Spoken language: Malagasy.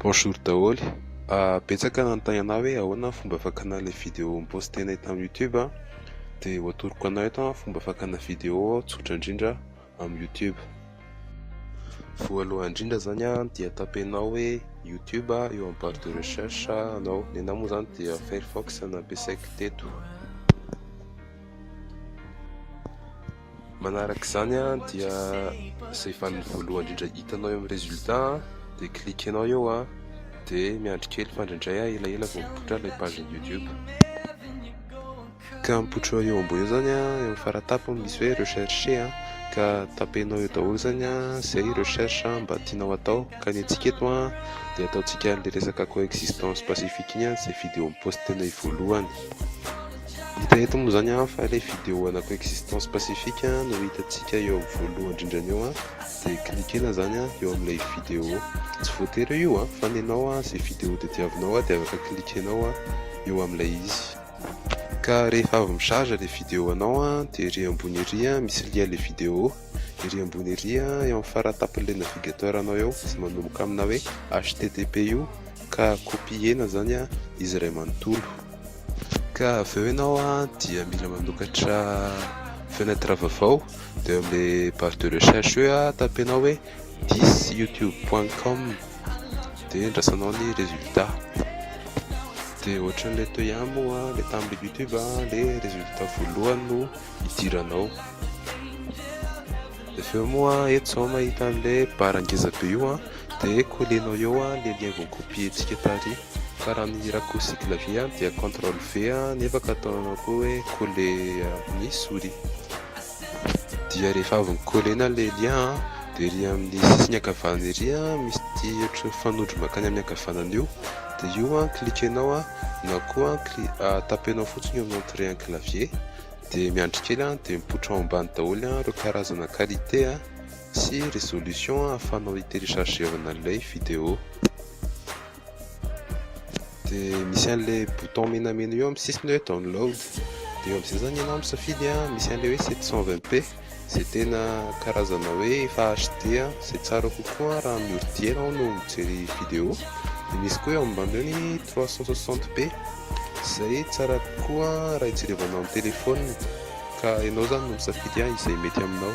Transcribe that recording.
Bonjour daholo, betsaka nanontany anah hoe ahoana fomba fakana ilay video mi-postenay tamin'ny youtube an, dia ho atoroko anao eto an fomba fakana video tsotra indrindra amin'ny youtube, voalohany indrindra zany an dia tapenao hoe youtube eo amin'ny barre de recherche anao, ny anah moa zany dia firefox no nampiasaiko teto. Manaraka izany dia izay vaniny voalohany indrindra hitanao eo amin'ny résultat dia cliquenao eo a dia miandry kely fa indraindray a ela ela vao mipoitra ilay page ny YouTube ka mipoitra eo ambony eo zany a eo amin'ny faratapony misy hoe recherche a ka tapenao eo daholo zany a izay recherche mba tianao atao ka ny antsika eto a dia ataontsika an'ilay resaka coexistence pacifique iny a izay vidéo mi-poste tenay voalohany Hita eto moa zany an fa ilay vidéo ana coexistence pacifique no hitantsika eo amin'ny voalohany indrindrany eo an dia cliquena zany an eo amin'ilay vidéo tsy voatery eo io an fa ny anao an izay vidéo tadiavinao an dia afaka cliquenao an eo amin'ilay izy ka rehefa avy micharge ilay vidéo anao an dia ery ambony ery an misy lien ilay vidéo ery ambony ery an eo amin'ny faratampin'ilay navigateur anao eo izay manomboka amina hoe http io ka copiena zany an izy iray manontolo Ka avy eo ianao dia mila manokatra fenêtre vaovao dia eo amin'ilay barre de recherche eo tapenao hoe thisyoutube.com dia andrasanao ny résultat. Dia ohatran'ilay toy ihany moa ilay tamin'ilay youtube ilay résultat voalohany no idiranao. Dia avy eo moa eto izao mahita an'ilay barre ngeza be io dia kolenao eo ilay lien voakopientsika tary. Fa raha ny hirako siky la vie dia control V nefa ka ataonao koa hoe colle amin'ny souris dia rehefa avy ny colle-na ilay lien an dia ery amin'ny sisiny ankavanana ery an misy ity ohatry ny fanondro mankany amin'ny ankavanana io dia io an cliquenao an na koa an tapenao fotsiny eo amin'ny entrée an'ny clavier dia miandry kely an dia mipoitra ao ambany daholo an ireo karazana qualité an sy résolution an ahafahanao hi télécharger-vana ilay vidéo. dia misy an'ilay bouton menamena eo amin'ny sisiny hoe download dia eo amin'izay zany ianao misafidy a misy an'ilay hoe 720p izay tena karazana hoe efa HD a izay tsara kokoa raha amin'ny ordi ianao no mijery vidéo dia misy koa eo ambany eo ny 360p izay tsara kokoa raha hijerevana amin'ny téléphone ka ianao zany no misafidy a izay mety aminao